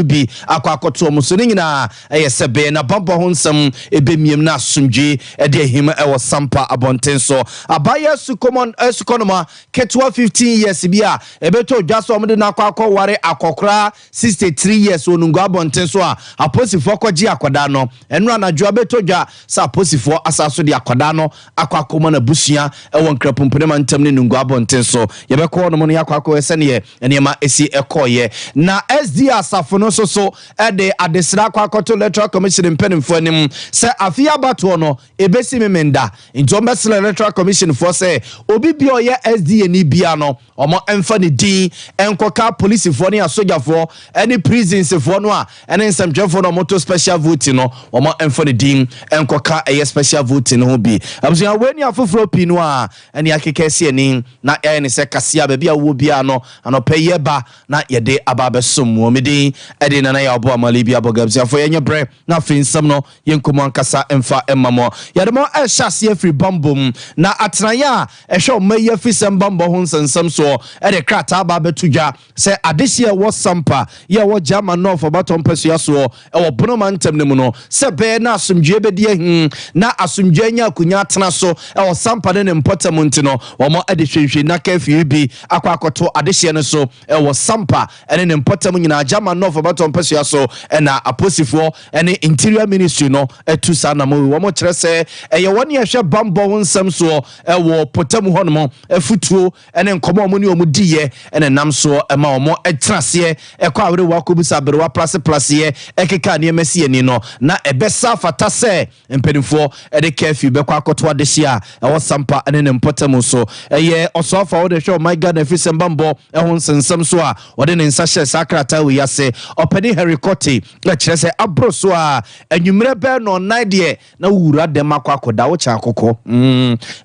bi akɔ akɔto wɔn so. Ne nyinaa ɛyɛ sɛ bɛyɛ na bambɔ ho nsɛm ɛbɛmiem na asomdwoe ɛde ahim ɛwɔ Sampa abɔnten so. Abaayewa sukɔmɔ, sukɔnoma ketewa 15 years bi a ɛbɛtɔ dwa sɛ wɔde no akɔ akɔware akɔkoraa 63 years wɔ Nungua abɔnten so a aposifoɔ kɔgyee akwadaa no nnora anadwo. Ɛbɛtɔ dwa sɛ aposifoɔ asan so de akwadaa no akɔ akɔma n'abusua wɔ Nkrapumpene mantam ne Nungua abɔnten so. Yɛbɛkɔ hɔnom no, yɛakɔ akɔhwɛ sɛdeɛ nneɛma si kɔeɛ. Na SDA asafo no nso so de adesrɛ akɔ akɔto Electoral Commission mpanimfoɔ anim sɛ afe yi abatoɔ no, ɛbɛsi Memenda. Nti wɔbɛsrɛ Electoral Commissionfoɔ sɛ obi biara a ɔyɛ SDA-ni biara no, Wɔmfa ne din nkɔka apolisifoɔ ne asogyafoɔ ne prisonsfoɔ no a ɛne nsɛmtwerɛfoɔ no a wɔto special voting no, wɔmfa ne din nkɔka ɛyɛ special voting no ho bi. Abusua, wei ne afoforɔ pii no a ɛne akeka asi ani na yɛayɛ no sɛ kaseɛ baabi a wowɔ biara no anɔpa yi ba na yɛde aba abɛsom wo. Me din de Nana Yaw Boa Mali Biabog. Abusuafoɔ yɛnyɛ berɛ. Na afei nsɛm no yɛ nkɔmu ankasa mfa mma mo. Yɛde mo rehyɛ aseɛ afiri bammɔ mu, na atenaeɛ a ɛhwɛ ɔman yi afirisɛm bammɔ ho nsɛnsɛm soɔ de krataa aba abɛto dwa sɛ adehyeɛ a ɛwɔ Sampa yi a ɛwɔ Gyama North Ɔbatɔ mpasua soɔ wɔ Bono mantam no mu no, sɛ ɛbɛyɛ na asomdwoeɛ bɛdi ahe na asomdwoeɛ anya akonnwa atena so wɔ Sampa ne ne mpɔtam nti no, wɔde hwehwɛnna kafiri bi akɔ akɔto adehyeɛ no so. Ɛwɔ Sampa ne ne mpɔtam nyinaa, German North ɔbɛtɔ mpɛsoa so na aposifoɔ ne Interior Ministry no atu saa anammɔn yi. Wɔkyerɛ sɛ ɛyɛ wɔn a ɛhwɛ bammɔ ho nsɛm soɔ wɔ mpɔtam hɔnom afotuo ne nkɔmmɔ a wɔn ne wɔn diiɛ na ɛnam soɔ ma wɔtena aseɛ kɔ awerewa kɔbisa aberewa plaseplaseɛ keka nneɛma si ani no na ɛbɛsa afata sɛ Mpanimfoɔ de curfew bɛkɔ akɔto adehye a ɛwɔ Sampa ne ne mpɔtam nso. Ɛyɛ Ɔsɔafo a ɔde hwɛ ɔman Ghana afirisɛm bammɔ ho nsɛnsɛm so a ɔde ne nsa hyɛɛ saa krataa wei ase, Ɔpani Henry Kortey. Kyerɛ sɛ aboro so a anwummerɛ bɛyɛ nnɔnnan deɛ na wowura dɛm akɔ akɔda, wokyɛ akokɔ.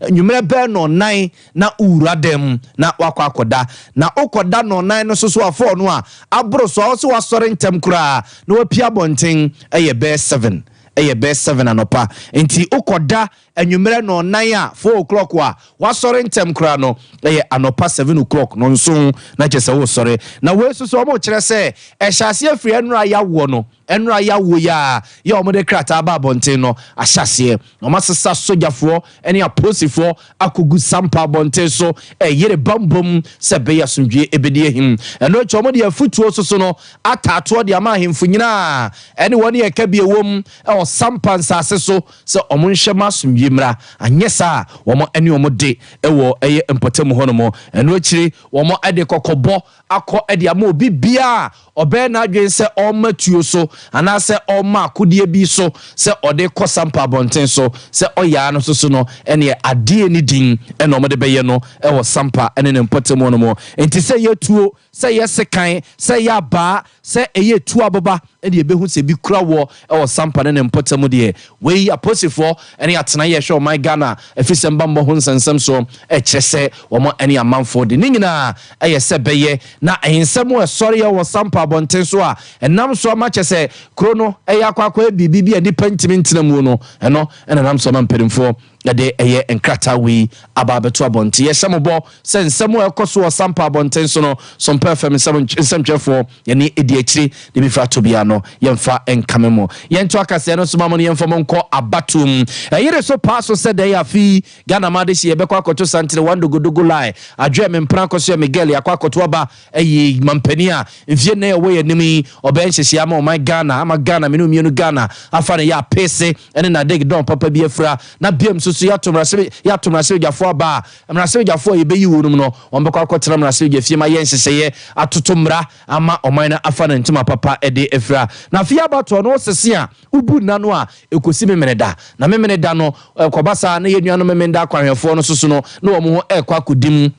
Anwummerɛ bɛyɛ nnɔnnan na wowura dɛm na woakɔ akɔda. Na wokɔda nnɔnnan no so so a, four no a, aboro so a, wose woasɔre ntɛm koraa na woapue abɔnten, ɛyɛ bɛyɛ seven. ɛyɛ bɛyɛ seven anɔpa nti wokɔda anwummerɛ nɔɔnan a four o'clock a wasɔre ntɛm koraa no ɛyɛ anɔpa seven o'clock nɔnson na kyɛ sɛ wosɔre na wei nso so wɔn kyerɛ sɛ ɛhyɛ aseɛ firi ɛnora yawoɔ no ɛnora yawoɔ yi a yɛ wɔn de krataa ba abɔnten no ahyɛ aseɛ wɔn asesa sogyafoɔ ɛne apolisifoɔ akɔgu sampa abɔnten so reyere bammɔ mu sɛ ɛbɛyɛ asomdwoeɛ bɛdi ahim. Ɛno akyi, wɔde afutuo so so no ataatoɔ de ama ahemfo nyina a ɛne wɔn yɛ ka bi a ɛwom wɔ sampa nsase so sɛ wɔn nhwɛ ma asomdwoeɛ mmra, anyɛ saa a wɔn ɛne wɔn de wɔ ɛyɛ mpɔtam hɔ nom. Ɛno akyire wɔn de kɔkɔbɔ akɔ de ama obi biara a ɔbɛyɛ n'adwene sɛ ɔrema tuo so anaasɛ ɔrema akodeɛ bi so sɛ ɔde rekɔ sampa abɔnten so sɛ ɔyɛ ara no so so no, ɛnneɛ adeɛ ne din na wɔde bɛyɛ no wɔ sampa ne ne mpɔtam hɔ nom. Enti sɛ ɛyɛ tuo, sɛ ɛyɛ sekan, sɛ ɛyɛ abaa, Sɛ ɛyɛ tu aboba de yɛbɛhu sɛ bi kura woɔ wɔ sampa ne ne mpɔtam mu deɛ, wei apolisifoɔ ne atenaeɛ a ɛhwɛ ɔman Ghana afisɛm bammɔ ho nsɛnsɛm soɔ kyerɛ sɛ wɔn ne amanfoɔ de. Ne nyinaa yɛ sɛ bɛyɛ na nsɛm a ɛsɔreɛ wɔ sampa abɔnten so a ɛnam so ama kyɛ sɛ kuro no yɛ akwakoraa biribi bi a nnipa ntumi ntena mu no, ɛno na ɛnam so ama mpanimfoɔ Na de ɛyɛ nkrataa wei aba abɛto abɔnten. Yɛhyɛ mo bɔ sɛ nsɛm a ɛkɔ so wɔ Sampa abɔnten so no, Sompa FM nsɛm nsɛmtwerɛfoɔ, yɛne ɛdi akyire de bɛfiri ato biara no, yɛmfa nkame mo. Yɛnto akasaeɛ no soma mo no, yɛmfa mo nkɔ abatoɔ mu. Ɛyere so paa so sɛ dɛn? Afe yi, Ghana Mma Adehyeɛ, yɛbɛkɔ akɔto Santene, One Dogodogo Line, Adwoɛ, Mempena, Akɔsoɛ, Miguel, yɛakɔ akɔto aba, Ɛyɛ manpanin a mfeɛ nnan a ɛwɔ yɛn anim yi, ɔbɛyɛ nhyehyɛeɛ ama ɔman Ghana, ama Ghana mene mmienu Ghana afa no yɛ apese ne n'adeg dɔn papa bi afira, na biam nso so yɛato mmarahyɛ yɛato mmarahyɛbadwafoɔ aba a mmarahyɛbadwafoɔ a yɛbɛyi wɔ nom no wɔn bɛkɔ akɔtena mmarahyɛbadwa fie ma yɛ nhyehyɛeɛ atoto mmara ama ɔman no afa no ntoma papa de afira. Na afei abatoɔ no wosese a wobu nna no a ɛkɔsi Memeneda, na Memeneda no ɛkɔba saa na yɛn nuanom Memenda akwanhwɛfoɔ no nso so no na wɔn ho ɛrekɔ akɔdi mu.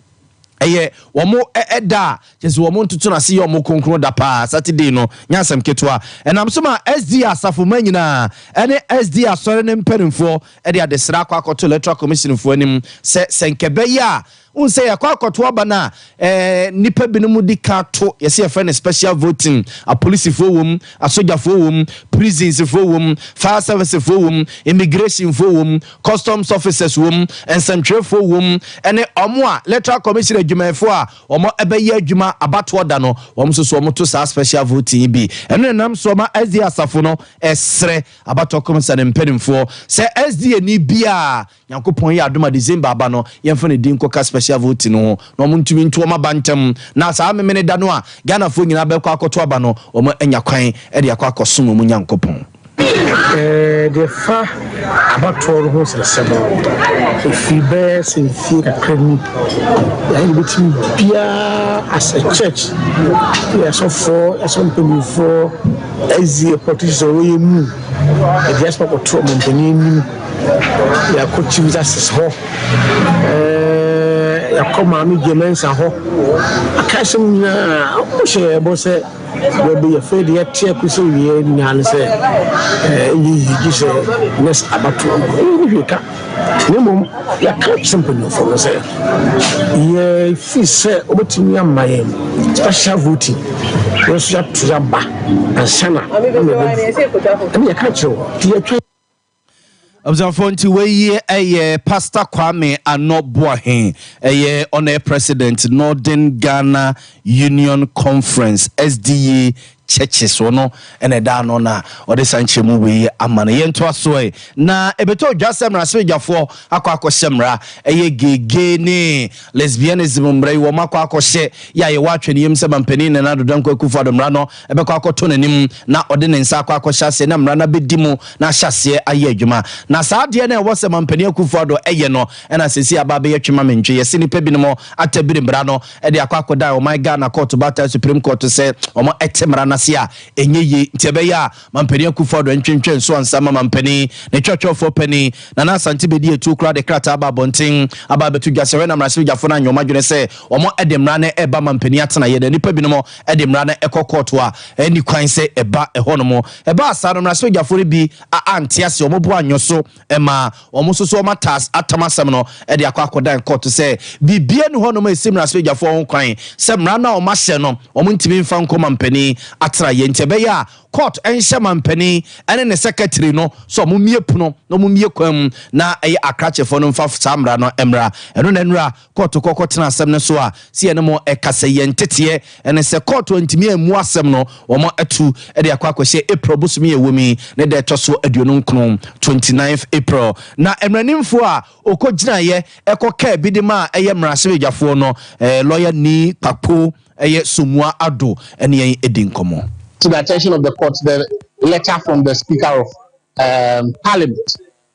Ɛyɛ wɔn da a kyerɛ sɛ wɔn ntoto no ase yɛ wɔn kronkron da paa, Saturday no nyɛ asɛm ketewa. Ɛnam so ma SDA asafomma nyinaa ne SDA asɔre no mpanimfoɔ de adesrɛ akɔ akɔto Electoral Commissionfoɔ anim sɛ sɛ nka ɛbɛyɛ a, wohu sɛ yɛkɔ akɔto aba no a, eh, nnipa binom di kan to, yɛsɛ yɛfrɛ no special voting, apolisifoɔ wom, asogyafoɔ wom, prisonsfoɔ wom, fire servicefoɔ wom, immigrationfoɔ wom, customs officers wom, nsɛntwerɛfoɔ wom, ɛne wɔn a electoral commission adwumayɛfoɔ a wɔn ɛbɛyɛ adwuma abatoɔ da no, wɔn nso so wɔn to saa special voting yi bi. Ɛno na nam so ɔma SDA asafo no ɛsrɛ abatoɔ kɔmisa ne mpanimfoɔ sɛ SDA ni biara Nyankopɔn yɛ adom a December aba no yɛmfa ne din nkɔka special voting no ho na wɔn ntumi nto wɔn aba ntɛm na saa memene da no a Ghanafoɔ nyinaa bɛkɔ akɔto aba no wɔn anya kwan de akɔ akɔsom wɔn Nyankopɔn. Deɛ ɛfa abatoɔ no ho nsɛsɛm no, ɛfiri bɛyɛ sɛ mfie kakra ni na yɛbɛtumi biara as a church yɛ asɔfoɔ ɛsɔ mpanimfoɔ ɛzi politicians a wɔyɛ mu ɛde asɛm akɔto ɔmampanin anim yɛakɔ chief justice hɔ yɛakɔ maame gyemɛnsa hɔ aka asɛm nyinaa wɔhyɛ yɛbɔ sɛ Berɛ bi yɛfrɛ deɛ ɛteɛ kosi awieɛ nyinaa ne sɛ ɛnyɛ yie gye sɛ nurse abatoɔ no ɛyɛ ne hwee ka na mmom yɛka sɛ mpanyinfoɔ no sɛ yɛfiri sɛ wɔbɛtumi ama yɛn special voting yɛn nso yɛato yɛaba ansa na ɛne yɛka kyerɛ wɔ nti yɛtwa Abusuafoɔ nti wei yi ɛyɛ Pastor Kwame Anɔ Boahe ɛyɛ Honour President Northern Ghana Union Conference SDU Churches ɔno ɛna ɛda ano na ɔde saa nkyerɛmu wei yi ama no yɛntoa so ɛ na ɛbɛtɔ dwa sɛ mmara sɛbadwafoɔ akɔ akɔhyɛ mmara ɛyɛ gege ne lesbianism mmara yi wɔn akɔ akɔhyɛ yɛ a yɛwɔ atwɛniyam sɛ mampanin Nana Addo Dankwa Akufo-Addo mmara no bɛkɔ akɔto n'anim na ɔde ne nsa akɔ akɔhyɛ aseɛ na mmara no abɛdi mu na ahyɛ aseɛ ayɛ adwuma. Na saa adeɛ no a ɛwɔ sɛ Mampanin Akuffo Addo yɛ no na seesei aba abɛyɛ twe ma me ntwe. Yɛse nnipa binom atabiri mmara no de akɔ akɔdan ɔman Ghana kɔɔto baatan Supreme Kɔɔto sɛ wɔn te mmara no ase a ɛnyɛ yie nti ɛbɛyɛ a Mampanin Akuffo Addo ntwentwɛn nso ansa ma Mampanin ne Twerɛtwerɛfoɔ Panin Nana Asante Bedi atuo koraa de krataa aba abɔnten aba abɛto dwa sɛ hwɛ na mmarahyɛbadwafoɔ no anyɛ wɔn adwene sɛ wɔn de mmara no reba Mampanin atenaeɛ na nnipa binom de mmara no kɔ kɔɔto a, ɛnni kwan sɛ ɛba hɔnom. Ɛbaa saa no, mmarahyɛbadwafoɔ no bi a ante aseɛ, wɔn bo anyɔ so maa wɔn nso so wɔatas atam asɛm no de akɔ akɔdan kɔɔto sɛ biribiara nni hɔnom a ɛsi mmarahyɛbadwafoɔ ho kwan sɛ mmara no a wɔahyɛ no wɔntumi mfa nkɔ mampanin atenaeɛ nti ɛbɛyɛ a kɔɔto nhyɛ mampanin ne ne sɛkɛtiri no sɛ wɔmmie pono na wɔmmie kwan mu na ɛyɛ akrakyefoɔ no mfa saa mmara no mmra ɛno na nnura kɔɔto kɔkɔtena asɛm no so a, sɛ yɛne mo ɛka sɛ yɛn nteteɛ ɛne sɛ kɔɔto antumi ammu asɛm no, wɔn atu de akɔ akɔhyɛ April bosome a ɛwɔ mu yi ne da ɛtɔ so aduonu nkron, 29th April. Na mmaranimfoɔ a ɔkɔgyinaeɛ ɛkɔkaa bi de maa ɛyɛ mmarahyɛbadwafoɔ no, Lawyer Nii Kpakpo ɛyɛ Somua Addo ɛne yɛn ɛdi nkɔmmɔ. To the attention of the court the letter from the Speaker of Parliament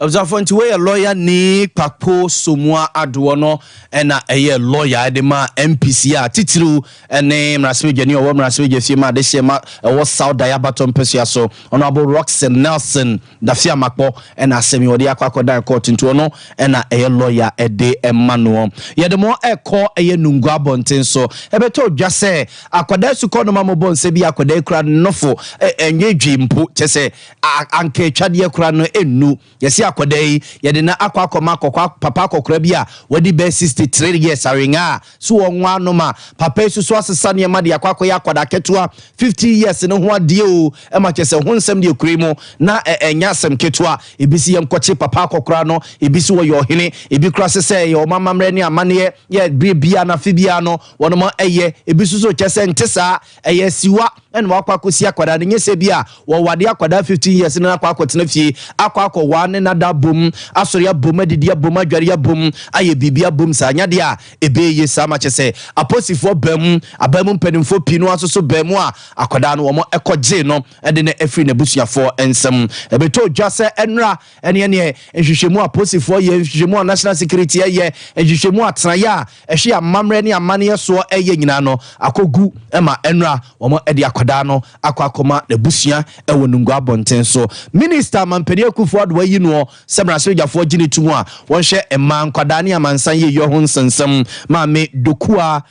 Abusuafoɔ nti wei yɛ lɔya ni kpakpo somua adoɔ no ɛna ɛyɛ lɔya ɛde ma MPC a titiriw ɛne mmarasimedwani ɔwɔ mmarasimedwa fie ma adehyeɛ ma ɛwɔ South Dayi Abatɔ mpɛsua so Honourable Rockson Nelson Dafiamakpɔ ɛna asɛm yi wɔde akɔ akɔdan kɔɔto nti ɔno ɛna ɛyɛ lɔya ɛde ɛma noɔ yɛde mo ɛkɔ ɛyɛ Nungua abɔnten so ɛbɛtɔ dwa sɛ akwadaa sukɔnoma mobɔ nsa bi akwadaa kura nofo ɛnwedwi mpo kyɛ sɛ a anka atwadeɛ koraa no nnu. Yɛse akwadaa yi, yɛde no akɔ akɔma akɔkɔ papa akɔkora bi a wadi bɛyɛ 63 years awengaa a, so wɔnwo ano ma papa yi so so asesa nneɛma de akɔ akɔyɛ akwadaa ketewa 50 years no ho adeɛ o? Ɛma kyerɛ sɛ ho nsɛm deɛ kura mu na ɛnyɛ asɛm ketewa. Ebi se yɛnkɔkye papa akɔkora no, ebi se ɔyɛ ɔhene, ebi koraa se sɛ ɛyɛ wɔn amammerɛ ne amanneɛ yɛ berɛ biara no afe biara no wɔnom ɛyɛ, ebi nso se ɔkyerɛ sɛ nte saa. Ɛyɛ asiwa na wakɔ akɔsi akwadaa no. Nyɛ sɛ bi a wɔwade akwadaa fifteen years na akɔ akɔtena fie akɔ akɔwaa ne nada abom, asɔre abom, adidi abom, adware abom, ayɛ biribi abom saa. Nyɛ adeɛ a ɛbɛyɛ yie saa ma kyerɛ sɛ aposifoɔ baa mu, abaa mu mpanimfoɔ pii no ara nso so baa mu a akwadaa no wɔkɔgyee no de no firii n'abusuafoɔ nsam. Ɛbɛtɔ dwa sɛ nnora ɛne ɛneɛ nhwehwɛmu a aposifoɔ yɛ, nhwehwɛmu a national security yɛ, nhwehwɛmu a atenaeɛ a ɛhwe amammerɛ ne amanneɛ soɔ yɛ nyinaa no akɔgu ma ɛno a wɔde akwadaa no akɔ akɔma n'abusua wɔ Nungua abɔnten so. Minista Mampanin Akuffo Addo ayi noɔ sɛ mmarahyɛbadwafoɔ gye no tom a wɔnhwɛ mmaa, nkwadaa ne amansan yieyɔ ho nsɛnsɛm. Maame Dokuah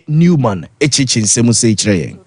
Newman kyerɛkyerɛ nsɛm sei kyerɛ yɛn.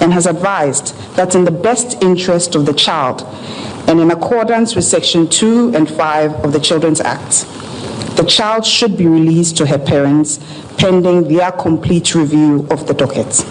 and has advised that in the best interest of the child and in accordance with section 2 and 5 of the Children's Act, the child should be released to her parents pending their complete review of the docket.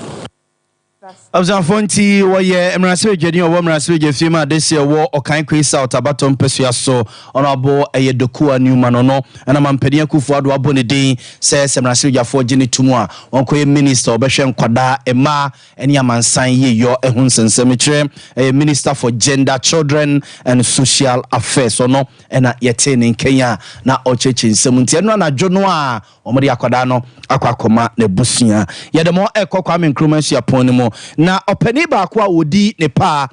abusuafoɔ nti wɔyɛ mmarahyɛbadwani a ɔwɔ mmarahyɛbadwafie mu a dehyeɛ wɔ ɔkan kwei south abatɔ mpasua so Honourable ɛyɛ Dokuwa Newman ɔno na Mampanin Akuffo Addo abɔ ne din sɛ sɛ mmarahyɛbadwafoɔ gye no tom a ɔnkɔyɛ Minister a ɔbɛhwɛ nkwadaa, mmaa ne amansan yieyɔ ho nsɛnsɛm. Mekyerɛ ɛyɛ Minister for Gender, Children and Social Affairs ɔno na yɛtee ne nkɛn a na ɔrekyerɛkyerɛ nsɛm nti ɛno anadwo no a wɔde akwadaa no akɔ akɔma n'abusua. Yɛde mo ɛrekɔ Kwame Nkrumah suapɔn no mu na ɔpanin baako a ɔdi ne paa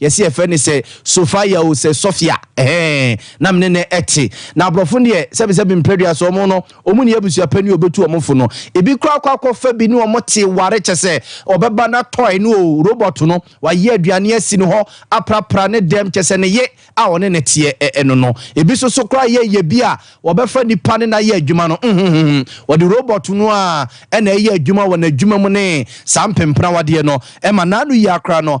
Yɛse yɛfrɛ no sɛ Sofia o, sɛ Sofia ɛhɛɛn na mene no ɛte. Na aborɔfo no deɛ sɛbe sɛbe mprɛdua so wɔn no wɔn nni abusua pa ni o, bɛtu wɔn fo no. Ebi koraa kɔ akɔfa bi ne wɔn te ware kyɛsɛ ɔbɛba na toy no o, robot no, wayɛ aduane asi no hɔ aprapra ne dɛm kyɛsɛ ne ye a ɔne no teɛ ɛ no no. Ebi so so koraa yɛ yɛ bi a wɔbɛfa nipa ne no ayɛ adwuma no mhmhmhmm wɔde robot no a ɛna ɛyɛ adwuma wɔ n'adwuma mu ne saa mpempenawadeɛ no ɛma n'ano yia koraa no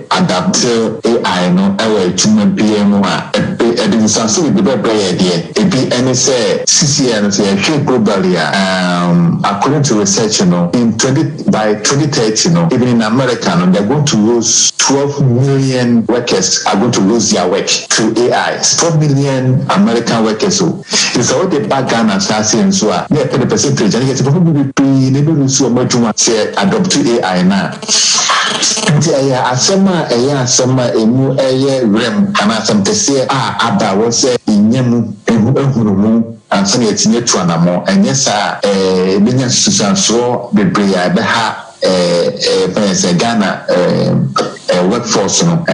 Adapte AI no wɔ adwuma biara mu a, ɛpɛ ɛde nsaso de bɛbrɛ yɛ deɛ ebi ne sɛ sesie ara no sɛ yɛhwɛ globally a um according to research no in twenty by twenty thirty no even in America no they're going to lose twelve million workers are going to lose their work through AI twelve million American workers o nti sɛ wode ba Ghana asaase nso a na yɛpɛ de percentage a na yɛsɛ bɛhɔ bebree na ɛbɛ lose wɔn adwuma sɛ yɛ adopte AI no a. Enti ɛyɛ asɛm a ɛyɛ asɛm a emu yɛ werɛm anaa asɛm kɛseɛ a aba a ɛwɔ sɛ yɛnya mu nhunumu ansa na yɛatumi atu anammɔn. Anyɛ saa a, ɛbɛnya nsunsuansoɔ bebree a ɛbɛha, ɛmfa yɛn sɛ Ghana workforce no.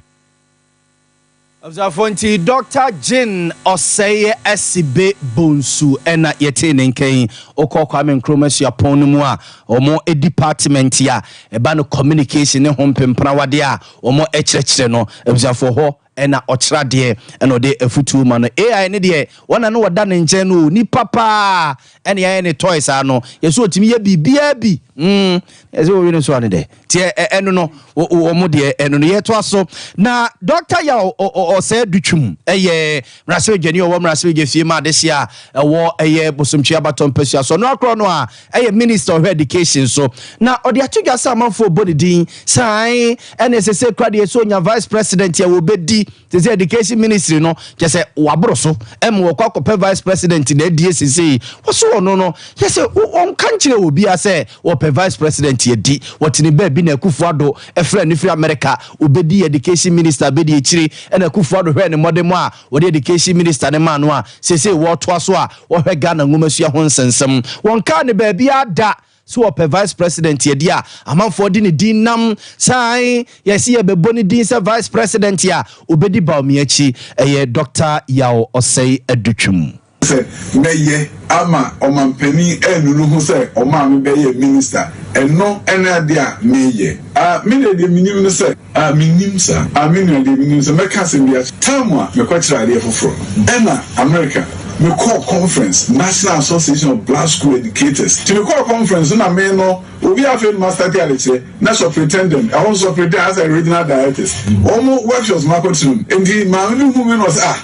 Abusuafoɔ nti Dɔkta Gyen Ɔsɛeɛ asi be bonsu ɛna yɛtee ne nka yi. Wokɔ Kwame Nkrumah suapɔn no mu a, wɔn department a ɛba no communication ne ho mpemprawadeɛ a wɔn kyerɛkyerɛ no, abusuafoɔ hɔ na ɔkyerɛ adeɛ ɛna ɔde afutuo ma no. AI no deɛ, wɔn a na wɔda ne nkyɛn no, onipa paa ɛne yɛayɛ ne toy saa no yɛ so ɔtumi yɛ biribiara bi mm, ɛsɛ wɔwe no so ane dɛ nti ɛno no wɔn deɛ ɛno no yɛtoa so na dɔkta ya ɔsɛe dutwum ɛyɛ mmarahyɛbadwani ɔwɔ mmarahyɛbadwa fie ma adehye a ɛwɔ ɛyɛ bosomtwe abatɔ mpasua so ɔno akorɔ no a ɛyɛ minister ɔhwɛ education so na ɔde ato dwa sɛ amanfoɔ bɔ ne din san ɛne ɛsɛ sɛ kura deɛ sɛ ɔnya vice president a wɔbɛdi te sɛ education ministry no kyɛ sɛ wɔaboro so ma wɔkɔ akɔpɛ vice president na adie sesei wɔso ɔno no yɛ sɛ ɔnka nkyerɛ wɔ bia sɛ wɔpɛ vice president adi wɔtene baabi na akufo ado ɛfrɛ no firi amerika wɔbɛdi education minister bɛdi akyiri ɛna akufo ado hwɛ ne mmɔde mu a wɔde education minister ne maa no a sesei wɔtoa so a wɔhwɛ ghana nwomasua ho nsensɛm wɔnkaa ne baabi ada So wɔpɛ Vice President adi a amanfoɔ de ne din nam? Sane, yɛse yɛbɛbɔ ne din sɛ Vice President a ɔbɛdi Bawumia akyi, ɛyɛ Doctor Yaw Ɔsɛe Adutwum. Sɛ mɛyɛ ama ɔmanpanin anunu ho sɛ ɔmaa me bɛyɛɛ Minister, ɛno ne adeɛ a meyɛ. Ah, me deɛ, deɛ menim ne sɛ. Ah, minnim saa. Ah, me nua, deɛ menim, sɛ mɛka asɛm bi akyerɛ. Tam a mekɔkyerɛɛ adeɛ foforɔ, ɛna Amerika, mekɔɔ conference, National Association of Black School Educators, nti mekɔɔ conference no na me no, obi a afei no mastarte adekyerɛ, na superintendent, ɛhɔ nso superintendent, asɛ regional directors, wɔn workshops makɔtena mu, nti maame bi huu me na ɔse, ah.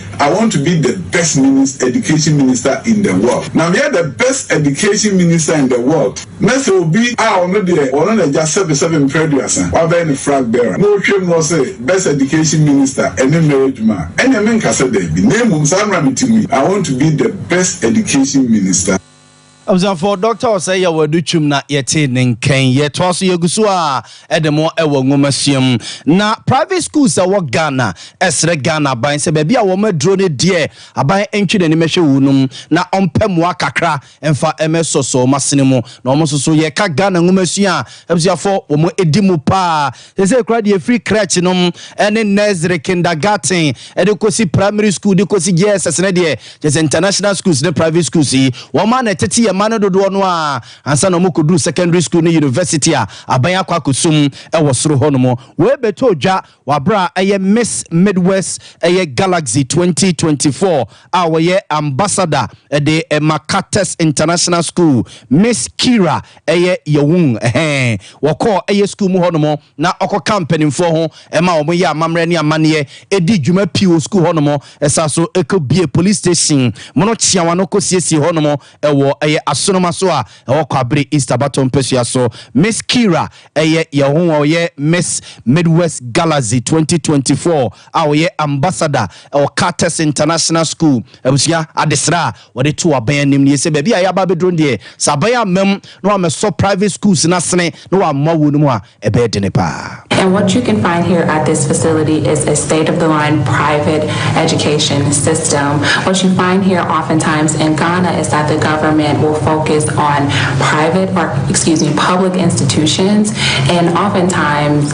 I want to be the best minis education minister in the world na meyɛ the best education minister in the world na sɛ obi a ɔno deɛ ɔno na agya sɛbe sɛbe mprɛ aduasa wabɛyɛ ne frag bearer na ɔtwam na ɔse best education minister ɛne mmɛyɛ adwuma a ɛneɛ menka sɛ daabi na mmom saa mmra me ti mu yi I want to be the best education minister. Abusuafo, Dɔkta Osei Yaw Adu Twam na yɛte ne nkan. Yɛtoa so yɛgu so ara de mo wɔ nwomasua mu. Na private schools a ɛwɔ Ghana srɛ Ghana aban sɛ baabi a wɔn aduro no deɛ aban ntwe n'anim nhwɛ wɔ nom na ɔmpɛ mmoa kakra mfa mmɛsɔsɔ wɔn asene mu. Na wɔn nso so yɛka Ghana nwomasua a abusuafo wɔn di mu paa. Sesei koraa deɛ ɛfiri crèche nom ne nursery, kindergarten de kɔsi primary school de kɔsi JSS no deɛ, kyerɛ sɛ international schools ne private schools yi, wɔn a na ɛtete yɛn mma no dodoɔ no ara ansa na wɔkɔduru secondary school ne university a aban akɔ akɔsum wɔ soro hɔnom. Wei bɛtɔɔ dwa wɔ aberɛ a ɛyɛ Miss Midwest ɛyɛ Galaxy 2024 a wɔyɛ ambassador de ma Carter's International School, Miss Kira, ɛyɛ Yawung hɛn. Wɔkɔɔ ɛyɛ skuul mu hɔnom na ɔkɔkaa mpanyimfoɔ ho ma wɔn yɛɛ amammerɛ ne amanneɛ, edii dwuma pii wɔ skuul hɔnom, ɛsaa so kɔ biee polis station mu no kyeawa no kɔ siesiee hɔnom wɔ ɛyɛ asonoma so a ɛwɔ Kwabere East abatoɔ mpasua so. Miss Kira ɛyɛ Yawung a ɔyɛ Miss Midwest Galaxy 2024 a ɔyɛ ambassador wɔ Carter's International School abusua adesrɛ a Wɔde too aban anim nie sɛ baabi a yɛaba abɛduro no deɛ, sɛ aban amma mu na wɔammɛsɔ private schools no asene na wɔammoa wɔn mu a, ɛbɛyɛ dene paa. And what you can find here at this facility is a state of the line private education system. What you find here often times in Ghana is that the government will focus on private or excuse me public institutions and often times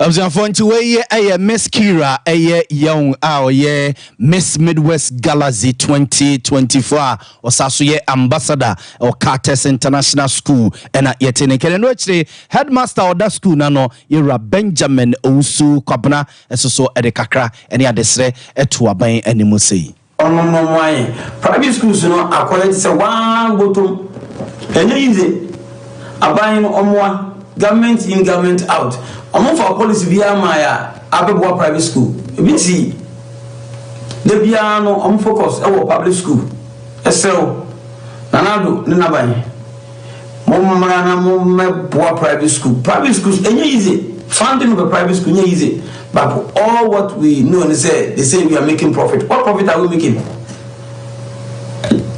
Abusuafoɔ nti wei yɛ ɛyɛ Miss Kira ɛyɛ Young a ɔyɛ Miss Midwest Galaxy 2024 a ɔsa so yɛ ambassador ɛwɔ Carters International School ɛna yɛte ne nkɛn ɛno akyire headmaster a ɔda school no ano yɛwura Benjamin Owusu Kwabena ɛso so ɛde kakra ɛne adesrɛ ɛto aban anim sei. Ɔno no ɔmo ayɛ private schools no akɔyɛ te sɛ waa botom ɛnyɛ yize aban no ɔmoa government in government out ɔmo nfa policy biara mmaeɛ a abɛboa private school ebi nsi da biara no ɔmo focus ɛwɔ public school ɛsrɛw Nana Addo ne n'aban. Mommra na mommɛboa private school. Private schools ɛnyɛ easy. Funding of a private school ɛnyɛ easy. But all what we know ne sɛ they say we are making profit. What profit are we making?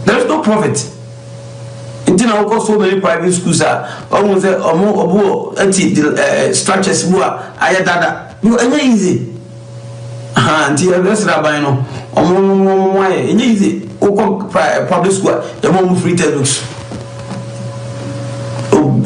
There is no profit. Nti na wokɔ so many private schools a wɔn sɛ wɔn ɔbo ɛti eh, eh, structures mu a ayɛ dada. Yo ɛnyɛ easy ahaa nti yɛsrɛ aban no ɔmo ɔmo mmoa yɛn ɛnyɛ easy wokɔ pra public school a yɛma ɔmo free textbooks o.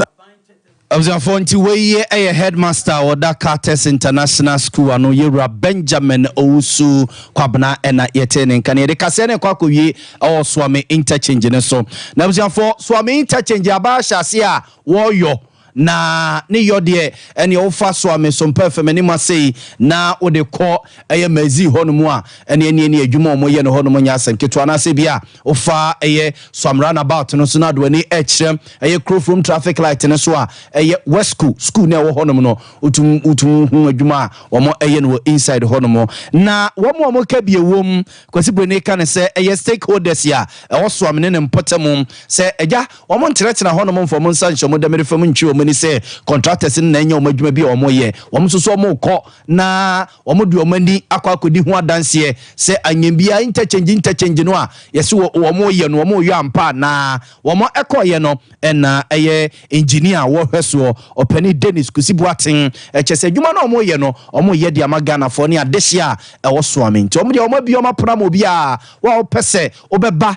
Abusuafoɔ, nti wei yɛ ɛyɛ Headmaster a ɔda Carters International School ano, Yɛwura Benjamin Owusu Kwabena ɛna yɛtee ne nka no. Yɛde kaseɛ no rekɔ akɔwie ɛwɔ Suame Interchange no so. Na abusuafoɔ, Suame Interchange aban ahyɛaseɛ a wɔreyɔ, Na ne yɔ deɛ, ɛneɛ wofa soa me sompa fam anim ase yi na wode kɔ ɛyɛ Mersey hɔ nom a, ɛneɛ neɛ ne adwuma a wɔyɛ no hɔ nom nyɛ asɛm ketewa. Anaasɛ ebia wofa ɛyɛ Suam Roundabout no so na wode w'ani ɛrekyerɛ ɛyɛ Kurofurom Traffic Light no so a, ɛyɛ Wesco school no a ɛwɔ hɔ nom no, wotum wotum hu adwuma a wɔyɛ no wɔ inside hɔ nom. Na wɔn a wɔka bi a ɛwom, Kwasi Brene ka no sɛ ɛyɛ stakeholders a ɛwɔ Suam ne ne mpɔtam sɛ, Agya, Wɔnkyerɛkyerɛ hɔnom mfa wɔn nsa nhyɛ wɔn dɛmɛre fam ntwe wɔn ani sɛ contractors no na ɛnyɛ wɔn adwuma bi a wɔyɛ. Wɔn nso so wɔkɔ na wɔde wɔn ani akɔ akɔdi ho adanseɛ sɛ anyɛ biara interchange interchange no a yɛse wɔyɛ no wɔyɔ ampa anaa. Wɔn a ɛkɔeɛ no na ɛyɛ engineer a wɔhwɛ soɔ ɔpanin Dennis Kusi Boateng. Ɛkyerɛ sɛ adwuma no a wɔyɛ no wɔyɛ de ama Ghanafoɔ ne adehyeɛ a ɛwɔ soame nti wɔn deɛ wɔabue wɔn apono ama obiara a wopɛ sɛ wobɛba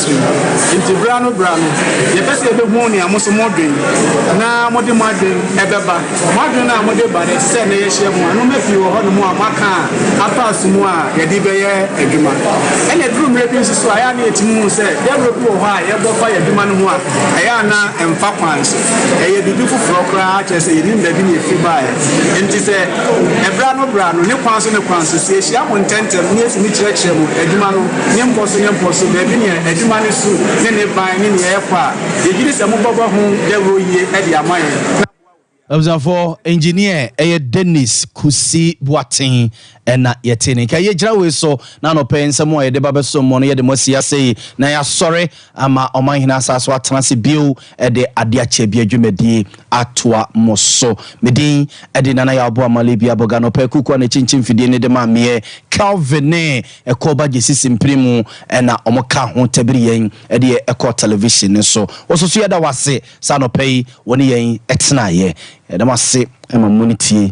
som. Enti bere ano bere ano, yɛpɛ sɛ yebehu nea mo nso modwen na mode mo adwene bɛba. Mo adwene no a mode ba no, sɛ nnɛ yɛahyia mu a, nneɛma pii wɔ hɔnom a moaka a afaa som mu a yɛde bɛyɛ adwuma. Ɛnna eduru mmere bi nso so a, ɛyɛ a na yetumi hu sɛ dawuru bi wɔ hɔ a yɛbɔ fa yɛ adwuma no ho a, ɛyɛ a na ɛmfa kwan so. Ɛyɛ biribi foforo koraa, kyerɛ sɛ yennim baabi na efi bae. Enti sɛ bere ano bere ano, ne kwan so ne kwan so, sɛ yehyia mo ntɛmntɛm na yetumi kyerɛkyerɛ mo adwuma no ne nkɔ so ne nkɔ so, baabi nea adwuma no su ne ne ban ne nea ɛrekɔ a, yegye di sɛ mobɛbɔ ho dawuro yie de ama yɛn na aboa obiara. Abusuafoɔ, Engineer ɛyɛ Dennis Kusi Boateng na yɛte ne nka. Yɛgyina wei so na anɔpa yi nsɛm a yɛde ba bɛsom mo no yɛde mo asi ase yi na yɛasɔre ama Ɔmanhene asan so atena ase bio de Adeɛ Akyɛ Bi adwumadie atoa mo so. Me din de Nana Yaw Boa Male Biabog. Anɔpa yi Kuku a n'akyinkyin fidie no de maa meɛ Kelvin ne Ɛkɔ ba gyesi simpire mu ɛna ɔmo ka ho tɛbiri yɛn ɛdeɛ ɛkɔ television no so wɔ so so yɛda wase sɛ anɔpa yi wone yɛn ɛtenaeɛ yɛda mo ase ɛma mo no tie